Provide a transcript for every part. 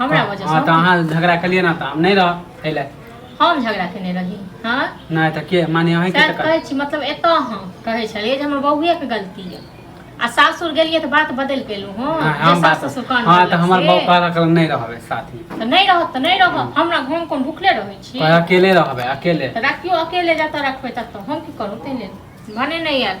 हमरा वजह हाँ, तो अहाँ झगड़ा कलिए ना तो हम नहीं रह खैले हम झगड़ा केने रही हाँ नहीं तो के माने अहीं के कहै छी मतलब एत हम कहै छलिए जे हमर बौए के गलती है आ सासुर गेलिए तो बात बदल पेलू हां हाँ, हम बात ससुर कान हां तो हमर बौ कहला कर नहीं रहबे साथ में तो नहीं रहत तो नहीं रह हाँ। हमरा घर कोन भूखले रहै छी तो अकेले रहबे अकेले तो राखियो अकेले जाता रखबे तब तो हम की करू तेने भने नहीं यार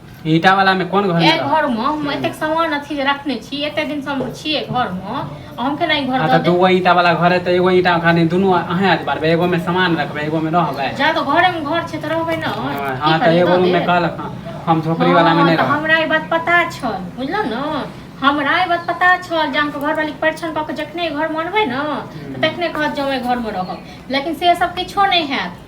ईटा वाला में कोन घर ए में घर में हम एतेक सामान अथी जे रखने छी एते दिन से हम छिए घर में आ हम केना ई घर आ दऽ तऽ देब दूगो ईटा वाला घर है तऽ एगो ईटा खाली दुनू अहें आज बारबे एगो में सामान रखबे एगो में रहबे जा तो घरे में घर छै तऽ रहबै न हाँ तऽ एगो रूम में कहलक हाँ, हम झोपड़ी वाला में नहीं रहब हमरा ई बात पता छल बुझलहुँ ने हमरा ई बात पता छल जे अहाँके घरवाली परीक्षण कऽ के जखने घर मनबै ने तऽ तखने कहत जे हम एहि घरमे रहब लेकिन से सब किछो नहि हैत